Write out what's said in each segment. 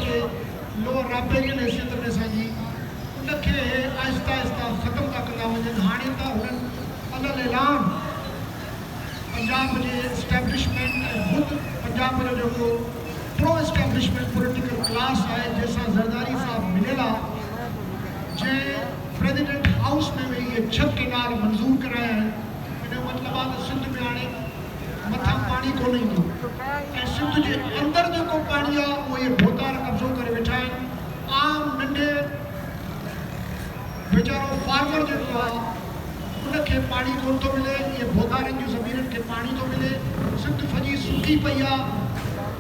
جي لوئر رابيرين ۽ سينٽر ڏسڻ جي ان کي اهي آهستي آهستي ختم ٿا ڪندا وڃن هاڻي ته هنن علل اعلان پنجاب جي اسٽيبلشمينٽ ۽ خود پنجاب جو جيڪو پرو اسٽيبلشمينٽ پوليٽيڪل ڪلاس آهي جنهن سان زرداري صاحب مليل آ جنهن پريزيڊنٽ هائوس ۾ ويهي اهي ڇهه ڪينال منظور ڪرايا آهن ان جو مطلب آ ته سنڌ ۾ هاڻي مٿان پاڻي ڪونه ايندو ۽ سنڌ جي اندر جيڪو پاڻي آ اهو اهي ڀوتار قبضو ڪري ويٺا آهن عام ننڍي ويچارو فارمر جيڪو آ ان کي پاڻي ڪونه ٿو ملي اهي ڀوتارن جون زمينن کي پاڻي ٿو ملي سنڌ سڄي سڪي پئي آ.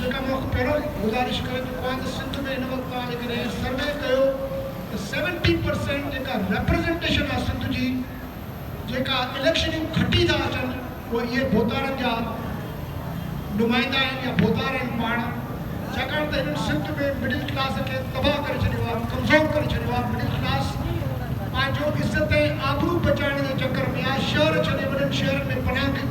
جيڪا مک پهرو ئي گذارش ڪري چڪو آهيان ته سنڌ ۾ هن وقت توهان جيڪڏهن هي سروي ڪيو ته سيونٽي پرسينٽ جيڪا ريپريزنٽيشن آهي سنڌ جي جيڪا اليڪشنيون کٽي ٿا اچن اهي اهي ڀوتارن جا نمائندا آهن يا ڀوتار آهن پاڻ ڇاڪاڻ ته هنن سنڌ ۾ مڊل ڪلاس کي تباهه ڪري ڇڏيو آهي ڪمزور ڪري ڇڏيو آهي مڊل ڪلاس پنهنجو عزت ۽ آبرو بچائڻ جي چڪر ۾ آهي شهر ڇڏي وڏن شهرن ۾ پناهه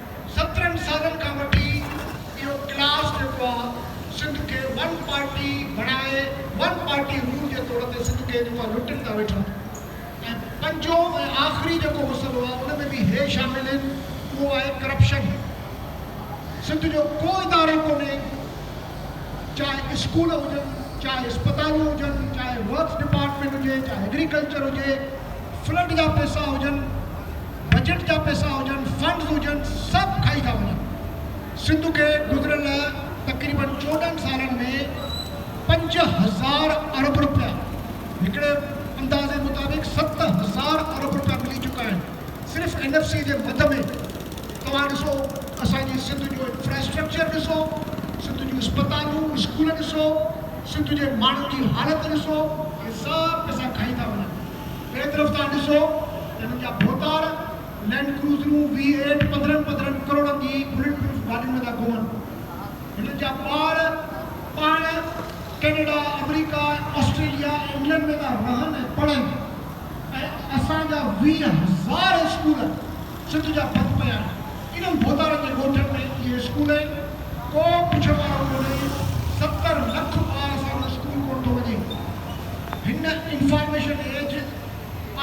سترهن سالن کان وٺي اهو ڪلاس جيڪو آ سنڌ کي ون پارٽي بڻائي ون پارٽي رول جي طور تي سنڌ کي جيڪو آ لٽن ٿا ويٺا ۽ پنجون ۽ آخري جيڪو مسئلو آ ان ۾ به هي شامل آهن اهو آهي ڪرپشن سنڌ جو ڪو ادارو ڪونهي چاهي اسڪول هجن چاهي اسپتالون هجن چاهي ورڪس ڊپارٽمينٽ هجي چاهي ايگريڪلچر هجي فلڊ جا پئسا هجن. بجيٽ جا پئسا هجن فنڊز هجن سڀ کائي ٿا وڃن سنڌ کي گذريل تقريبن چوڏهن سالن ۾ پنج هزار ارب رپيا هڪڙي اندازي مطابق ست هزار ارب رپيا ملي چڪا آهن صرف اين ايف سي جي مد ۾ توهان ڏسو اسان جي سنڌ جو انفراسٽرڪچر ڏسو سنڌ جون اسپتالون اسڪول ڏسو سنڌ جي ماڻهن جي حالت ڏسو اهي سڀ پئسا کائي ٿا وڃن. ٻئي طرف تان ڏسو ته هنن جا ڀوتار لينڊ ڪروزرون، وي ايٽ، پندرهن پندرهن ڪروڙن جي بلٽ پروف گاڏين ۾ ٿا گهمن. هنن جا ٻار پاڻ ڪينيڊا، آمريڪا، آسٽريليا، انگلنڊ ۾ ٿا رهن ۽ پڙهن ۽ اسان جا ويهه هزار اسڪول سنڌ جا بند پيا آهن انهن ڀوتارن جي ڳوٺن ۾ اهي اسڪول آهن ڪو پڇڻ وارو ڪونهي ستر لک ٻار ساڻن اسڪول ڪونه ٿو وڃي هن information age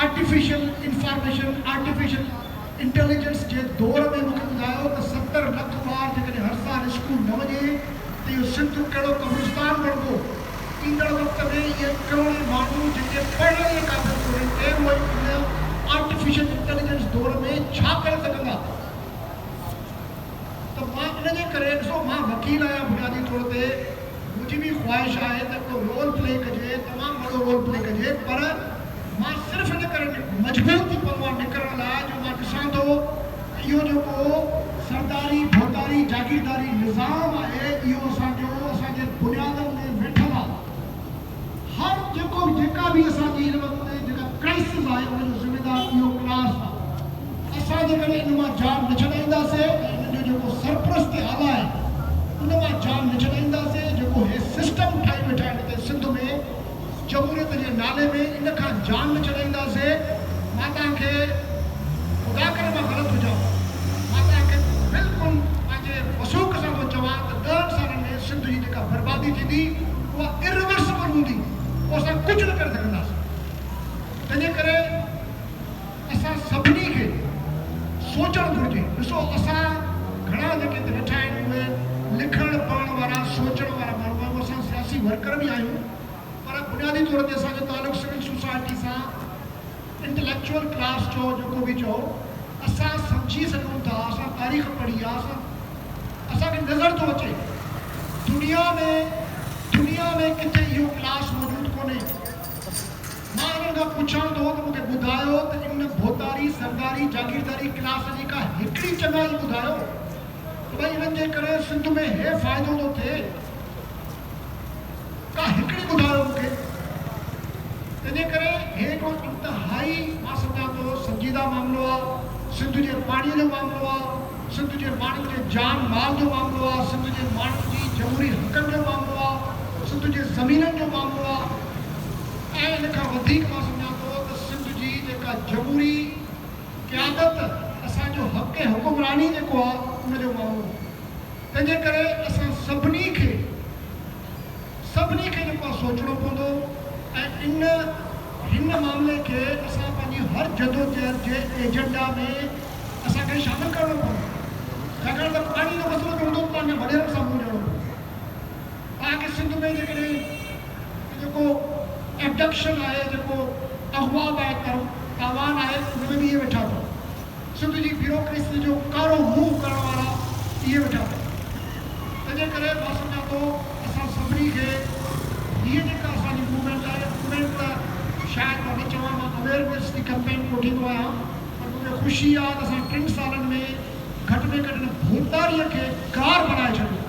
artificial information artificial intelligence جي دور ۾ مونکي ٻڌايو ته ستر لک ٻار جيڪڏهن هر سال اسڪول نه وڃي ته اهو سنڌ ڪهڙو قبرستان بڻبو. ايندڙ وقت ۾ اهي ڪروڙين ماڻهو جيڪي پڙهڻ جي قابل ڪونهن ڪي اهي ان آرٽيفيشل انٽيليجنس دور ۾ ڇا ڪري سگهندا ته مان ان جي ڪري ڏسو مان وڪيل آهيان بنيادي طور تي منهنجي به خواهش آهي ته ڪو رول پلي ڪجي تمام وڏو رول پلي ڪجي پر مان صرف ان ڪري مجبور ٿي پوان نڪرڻ لاء جو مان ڏسان ٿو اهو جيڪو سرداري، ڀوتاري، جاگيرداري نظام آهي اهو اسان جو اسان جي بنيادن ۾ ويٺل آهي. هر جيڪو به جيڪا به اسان جي هن وقت جيڪا ڪرائسز آهي ان جو ذميدار اهو ڪلاس آهي. اسان جيڪڏهن ان مان جان نه ڇڏائينداسين ۽ ان جو جيڪو سرپرست اعليٰ آهن ان مان جان نه ڇڏائينداسين جيڪو هي سسٽم ٺاهي ويٺا آهن هتي سنڌ ۾، جمهوريت جي نالي ۾ ان کان جان به ڇڏائينداسين مان توهان کي خدا ڪري مان غلط هجان مان توهان کي بلڪل پنهنجي وثوق سان ٿو چوان ته ڏهن سالن ۾ سنڌ جي جيڪا بربادي ٿيندي اها Irreversible هوندي پوء اسان ڪجهه نه ڪري سگهنداسين تنهنجي ڪري اسان سڀني کي سوچڻ گهرجي. ڏسو اسان گهڻا جيڪي هتي ويٺا آهن اهي لکڻ پڙهڻ وارا سوچڻ وارا ماڻهو آهيون اسان سياسي ورڪر به آهيون پر بنيادي طور تي اسان جو تعلق سول سوسائٽي سان انٽليڪچوئل ڪلاس چئو جيڪو به چئو اسان سمجهي سگهون ٿا اسان تاريخ پڙهي آهي اسان اسان کي نظر ٿو اچي دنيا ۾ دنيا ۾ ڪٿي اهو ڪلاس موجود ڪونهي. مان انهن کان پڇان ٿو ته مونکي ٻڌايو ته ان ڀوتاري زرداري جاگيرداري ڪلاس جي ڪا هڪڙي چڱائي ٻڌايو ته ڀائي انهن جي ڪري سنڌ ۾ هي فائدو ٿو ٿئي ڪا هڪڙي ٻڌايو مونکي تنهن جي ڪري هي هڪڙو انتهائي مان سمجهان ٿو سنجيده معاملو آ سنڌ جي پاڻي جو معاملو آ سنڌ جي ماڻهن جي جان مال جو معاملو آ سنڌ جي ماڻهن جي جمهوري حقن جو معاملو آ سنڌ جي زمينن جو معاملو آ. ۽ ان کان وڌيڪ مان سمجهان ٿو ته سنڌ جي جيڪا جمهوري قيادت اسان جو حق حڪمراني جيڪو آ ان جو ماڻهو آ تنهنجي ڪري اسان سڀني کي سڀني کي جيڪو آ سوچڻو پوندو ۽ ان هن معاملي کي اسان پنهنجي هر جدوجهد جي ايجنڊا ۾ اسان کي شامل ڪرڻو پوندو ڇاڪاڻ ته پاڻي جو مسئلو جو هوندو ته پنهنجن وڏيرن سان منهن ڏيڻو پوندو. پاڪ سنڌ ۾ جيڪڏهن هي جيڪو ابڊڪشن آهي، جيڪو اغوا به آهي، پر تاوان آهي، ان ۾ به اهي ويٺا اٿن. سنڌ جي بيوروڪريسيء جو ڪارو منهن ڪرڻ وارا اهي ويٺا اٿن. تنهنجي ڪري مان سمجهان ٿو اسان سڀني کي هيء جيڪا اسان جي موومينٽ آهي، موومينٽ ته شايد مان نه چوان، مان اويئرنيس جي ڪمپين ڪوٺيندو آهيان، پر مون کي خوشي آهي ته اسان ٽن سالن ۾ گهٽ ۾ گهٽ ان ڀوتاريء کي گار بڻائي ڇڏيو آهي.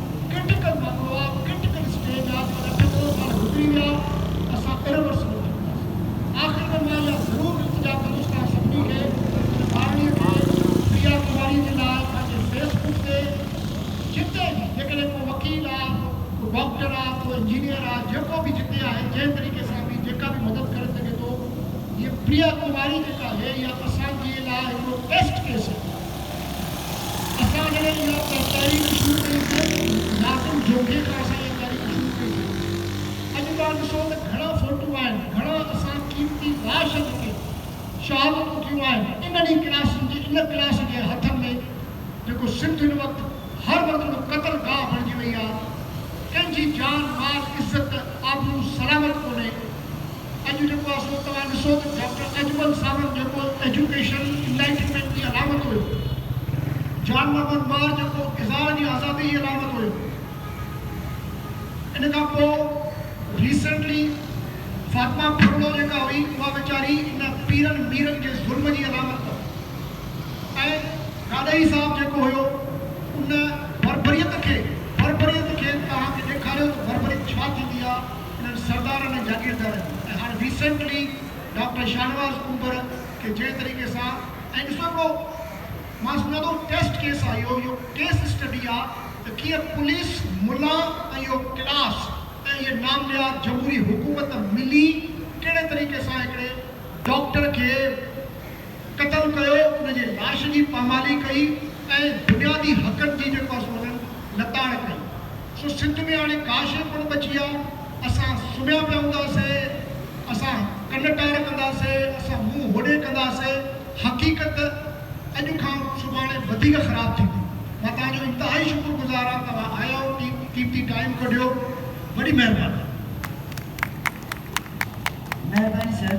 ڪرٽيڪل معاملو آ ڪرٽيڪل اسٽيج آ پر اٺ نو سال گذري ويا اسان ارورسبل ٿي وياسين آخر ۾ مان اها ضرور التجا ڪندس توهان سڀني کي ان ٻارڙي کي پريا ڪماري جي لاء پنهنجي فيس بڪ تي جتي به جيڪڏهن ڪو وڪيل آ ڪو ڊاڪٽر آ ڪو انجنيئر آ جيڪو به جتي آهي جنهن طريقي سان به جيڪا به مدد ڪري سگهي ٿو هيء پريا ڪماري جيڪا آهي اها اسان جي لاء هڪڙو ٽيسٽ ڪيس آهي. اسان جڏهن اها تحريڪ شروع ڪئيسين، ناظم جوکي کان اسان اها تحريڪ شروع ڪئيسين. اڄ توهان ڏسو ته گهڻا فوٽو آهن، گهڻا اسان قيمتي لاشن تي شهادتون ٿيون آهن، انهن ئي ڪلاسن جي ان ڪلاس جي هٿن ۾ جيڪو سنڌ هن وقت هر وقت هڪڙو قتل گاهه بڻجي وئي آهي، ڪنهن جي جان، مال، عزت، آبرو سلامت ڪونهي. اڄ جيڪو اصل توهان ڏسو ته ڊاڪٽر اجمل ساوند جيڪو ايجوڪيشن انلائٽنمينٽ جي علامت هيو، جان محمد مار جيڪو اظهار جي آزادي جي علامت هيو، ان کان پوء ريسينٽلي فاطمه ڦرڙو جيڪا هئي اها ويچاري ان پيرن ميرن جي ظلم جي علامت هئا ۽ گاڏهي صاحب جيڪو هيو ان بربريت کي بربريت کي توهان کي ڏيکاريو ته بربريت ڇا ٿيندي آهي. انهن سردارن ۽ جاگيردارن جي ۽ هاڻ ريسينٽلي ڊاڪٽر شاهنواز ڪنڀر کي جنهن طريقي سان ۽ ڏسو هڪڙو مان سمجهان ٿو ٽيسٽ ڪيس آهي اهو اهو ڪيس اسٽڊي آهي ته ڪيئن پوليس ملان ۽ اهو ڪلاس ۽ اهي ناميار جمهوري حڪومت ملي ڪهڙي طريقي سان هڪڙي ڊاڪٽر کي قتل ڪيو، ان جي لاش جي پامالي ڪئي ۽ بنيادي حقن جي جيڪو آهي سو انهن لتاڙ ڪئي. سو سنڌ ۾ هاڻي ڪا شيء ڪونه بچي آهي. اسان سمهيا پيا هونداسي، اسان ڪن ٽار ڪنداسي، اسان منهن هوڏي ڪنداسي، حقيقت اڄ کان سڀاڻي وڌيڪ خراب ٿيندي. مان توهان جو انتهائي شڪر گذار آهيان، توهان آيا آهيو، قيمتي ٽائيم ڪڍيو، وڏي مهرباني. مهرباني سر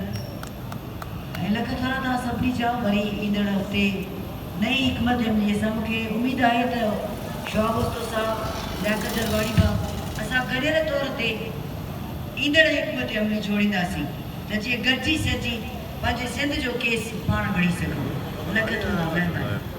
۽ لک ٿورا توهان سڀني جا وري ايندڙ هفتي نئين حڪمت عملي سان مون کي اميد آهي ته شهاب اوستو صاحب لياقت درباري ڀا اسان گڏيل طور تي ايندڙ حڪمت عملي جوڙينداسين ته جيئن گڏجي سڏجي پنهنجي سنڌ جو ڪيس پاڻ وڙهي سگهون لک ٿورا مهرباني.